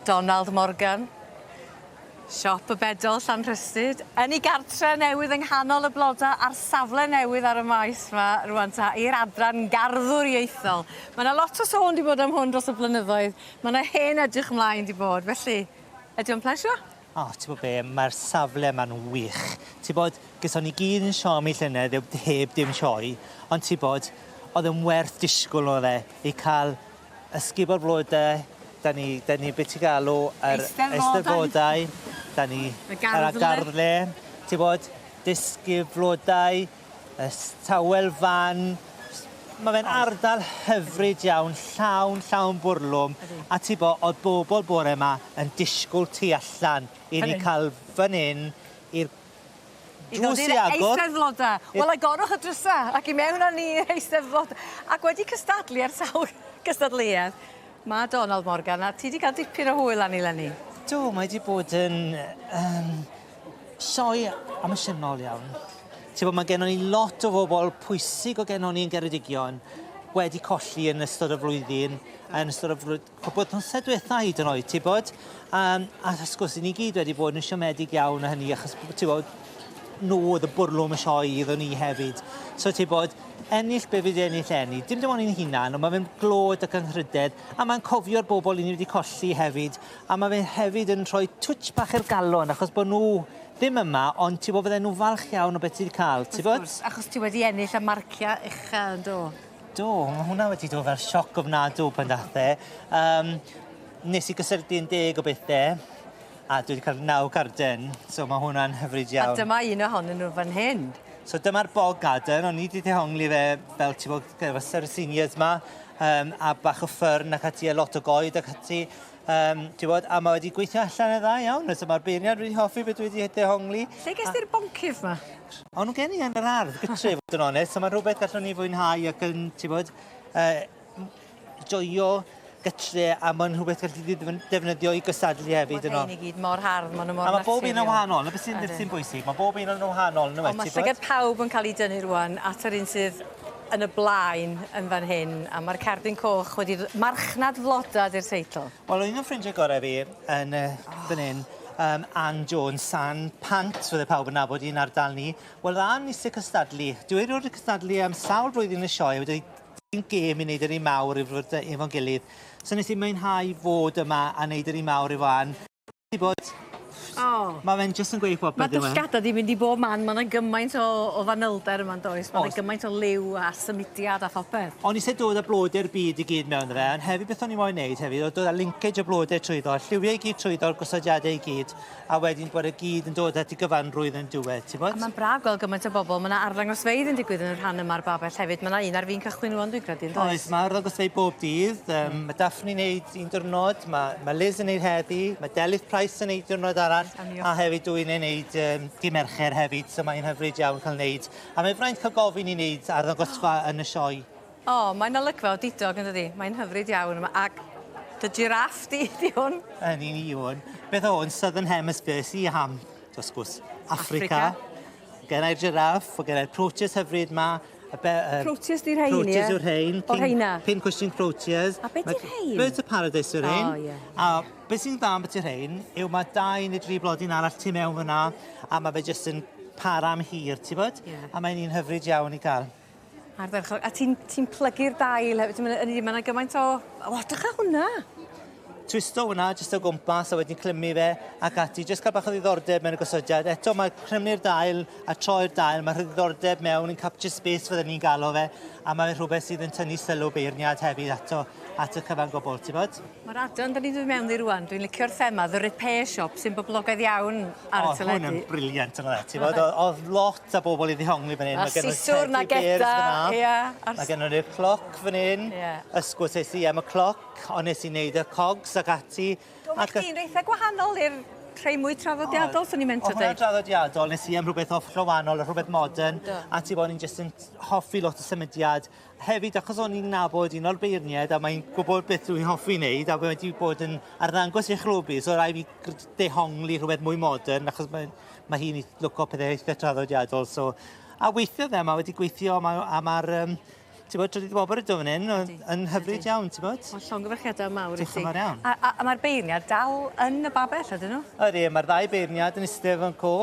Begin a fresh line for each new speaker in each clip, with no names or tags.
Donald Morgan, Siop y Bedol, Llanrhystud, yn ei gartre newydd yng nghanol y blodau a'r safle newydd ar y maes 'ma rŵan ta, i'r adran garddwriaethol. Mae 'na lot o sôn 'di bod am hwn dros y blynyddoedd, mae 'na hen edrych 'mlaen 'di bod, felly ydi o'n plesio? O, ti bod be,
mae'r safle yma'n wych. Ti bod, gyson ni gyd yn siomi llynedd heb, heb dim sioe, ond ti bod, oedd yn werth disgwyl oedd e, i cael ysgubo'r flodau, da ni, da ni beth i galw, yr eisteddfodau, da ni, y garddle, ti bod, dysgu flodau, Y tawel fan, mae fe'n ardal hyfryd iawn, llawn, llawn bwrlwm, a ti bo, oedd bobl bore yma yn disgwyl tu allan i ni cael fan hyn i'r drws i agor. Eisteddfodau. Wel, I
gorwch y drysau ac i mewn â ni i'r Eisteddfod. Ac wedi cystadlu ar sawl cystadleuaeth, mae Donald Morgan, a ti wedi cael dipyn o hwyl arni, Lenny. Do, mae wedi bod
yn... Sioe emosiynol iawn. Ti'n bod, mae gennon ni lot o bobl pwysig o gennon ni yn Geredigion wedi colli yn ystod y flwyddyn, yn ystod y flwyddyn, cwpl tymsau diwetha hyd yn oed, ti'n bod? Um, a wrth gwrs, ni gyd wedi bod yn siomedig iawn o hynny, achos ti'n bod, nhw oedd y bwrlwm y sioe iddyn ni hefyd. So ti'n bod, ennill be fydd ennill enni. Dim dim ond i'n hunan, ond mae'n mynd glod ac ynghydedd, a mae'n cofio'r bobl i ni wedi colli hefyd, A ma' fe hefyd yn rhoi twtsh bach i'r galon achos bo' nw ddim yma ond ti wbo fydden nw'n falch iawn o be' ti 'di ca'l ti wbod? Wrth gwrs achos ti wedi ennill
a marcia ucha yndo? Do ma'
hwnna wedi do' fel sioc ofnadw pan dath e yym nes i gysylltu un deg o bethe a dwi 'di ca'l naw garden so ma' hwnna'n hyfryd iawn. A dyma un ohonyn
nw fan hyn. So dyma'r bog
garden o'n i 'di dehongli fe fel ti wbo gyda seniors 'ma yym a bach o ffyrn ac ati a lot o goed ac ati Um, ti bod, a mae wedi gweithio allan yn dda iawn, nes mae'r beirniad wedi hoffi beth wedi dehongli. Lle ges ti'r boncyff
ma? O'n nhw gen i yn
yr ardd, gytre fod yn onest, so mae rhywbeth gallwn ni fwynhau ac yn, ti bod, uh, joio gytre a mae'n rhywbeth gallu di defnyddio i gystadlu hefyd yno. Mae'n i gyd mor hardd, mae'n
mor naturiol. A mae bob un yn wahanol, na
beth sy'n sy'n bwysig, mae bob un yn wahanol. Ond mae llygad pawb
yn
cael
ei dynnu rwan at yr un sydd yn y blaen yn fan hyn a ma'r cerdyn coch wedi r- marchnad floda 'di'r teitl. Wel un o ffrindie gore
fi yn yy fan 'yn yym Ann Jones San Pant fydde pawb yn nabod 'i yn ardal ni. Wel o'dd Ann isie cystadlu. Dyw e rioed 'di cystadlu am sawl blwyddyn yn y sioe a wedi deu- gêm i neud e ry mawr i fod yy efo'n gilydd. So nes i mwynhau fod yma a neud e ry mawr efo Ann. Ti bod? O! Ma' fe'n jyst yn gweud popeth yw e? Ma' dy llgada di mynd i bob man
ma' 'na gymaint o o fanylder yma yndoes? O's. Ma' 'na gymaint o liw a symudiad a phopeth. O'n i isie dod â blode'r
byd i gyd mewn 'da fe ond hefyd beth o'n i moyn neud hefyd o'dd dod â linkage o blode trwyddo lliwie i gyd trwyddo'r gosodiade i gyd a wedyn bod e gyd yn dod at y gyfanrwydd yn diwedd ti wbod? A ma'n braf gweld gymaint o bobol
ma' 'na arddangosfeydd yn digwydd yn y rhan yma o'r babell hefyd ma' 'na un ar fin cychwyn rŵan dwi'n credu yndoes? Oes ma' arddangosfeydd bob
dydd yym ma' Daphne neud un diwrnod, mae, mae Liz yn neud heddi, mae Delyth Price yn neud diwrnod arall, a hefyd dwi'n ei wneud um, dim ercher hefyd, so mae'n hyfryd iawn cael wneud. A mae fraint cael gofyn i wneud ar ddangosfa oh. yn y sioe. O, oh, mae'n
olygfa o didog yn dydi, mae'n hyfryd iawn, ac dy giraff di, di hwn. Yn un i hwn.
Beth o hwn, Southern Hemisphere, si ham, dosgwrs, Africa. Africa. Gennai'r jiraff, o gennai'r proteus hyfryd ma. Y be, uh, proteus di
rhain, ie? Proteus yw'r rhain. O,
rhaina? Pin cwestiwn
proteus.
A beth yw'r
rhain?
Birds
of Paradise yw'r rhain.
Oh, ie. Yeah. A beth
sy'n dda
am beth yw'r rhain yw mae dau neu dri blodyn arall tu mewn fyna a mae fe jyst yn para am hir, ti bod? Yeah. A mae'n un hyfryd iawn i gael. Ardderchog.
A ti'n ti plygu'r dail hefyd. Ti'n mynd yn un gymaint o... O, dych a hwnna! Twisto
hwnna jyst o gwmpas a wedyn clymu fe ac ati. Jyst cael bach o ddiddordeb mewn y gosodiad. Eto mae clymu'r dail a troi'r dail. Mae rhyddiddordeb mewn yn capture space fydden ni'n galw fe. A mae rhywbeth sydd yn tynnu sylw beirniad hefyd ato at y cyfan gwbl, ti'n bod? Ma'r adran 'dan ni'n dod mewn ddi
rŵan dwi'n licio'r thema The Repair Shop sy'n boblogaidd iawn ar y teledu. O o'dd hwn yn brilliant yndo'dd e?
Ti wbod o- o'dd lot o bobol i ddihongli fyn 'yn. A'r siswrn a
geda ia a'r... Ma' gennon ni'r
cloc fyn 'yn. Ie. Ysgwrs es i am y cloc on' nes i neud y cogs ag ati. Do ma' chi'n eitha
gwahanol i'r rhei mwy traddodiadol swn i'n meindio deud. O'dd hwnna draddodiadol nes
i am rhwbeth off rho- wanol a rhwbeth modern. Do. A ti 'bo' o'n i'n jyst yn hoffi lot o symudiad Hefyd, achos o'n i'n nabod un o'r beirniaid a mae'n gwybod beth dwi'n hoffi wneud a mae wedi bod yn arddangos i chlwb i, so rai fi dehongli rhywbeth mwy modern achos mae, mae hi'n lwco pethau eitha traddodiadol. So, a weithio fe, mae wedi gweithio a mae'r ma, ma um, ti'n bod, trydydd bobr ydw fan hyn, yn hyfryd iawn, ti'n bod? Mae'n llongyfarchiadau mawr
i ti. Diolch yn iawn. A, a, a
mae'r beirniad
dal yn y babell, ydyn nhw? Ydy, mae'r ddau beirniad
yn eistedd fan co.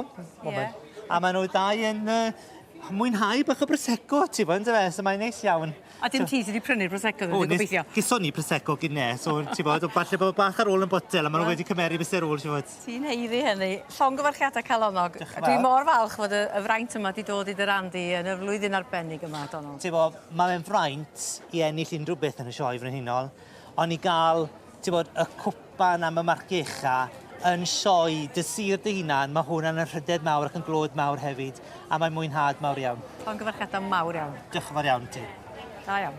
Yeah.
A maen nhw ddau
yn uh, mwynhau bach o Prosecco ti wbod yndyfe so mae'n neis iawn. A dim ti sy 'di prynu'r
Prosecco ddo dwi'n gobeithio. O nes geson ni Prosecco
gynne so ti wbod o falle bod bach ar ôl yn botel a ma' n'w wedi cymeru fyse rôl ti wbod. Ti'n haeddu hynny.
Llongyfarchiada calonnog. Dioch yn fawr. Dwi mor falch
fod y y
fraint yma 'di dod i dy ran di yn y flwyddyn arbennig yma Donald. Ti wbo ma' fe'n
fraint i ennill unrhyw beth yn y Sioe Frenhinol on' i ga'l Ti'n gwybod, y cwpan am y marcgecha yn sioe dy sir dy hunan, mae hwn yn rhydedd mawr ac yn glod mawr hefyd, a mae'n mwynhad mawr iawn. Llongyfarchiadau
mawr
iawn. Diolch yn fawr
iawn i
ti. Da
iawn.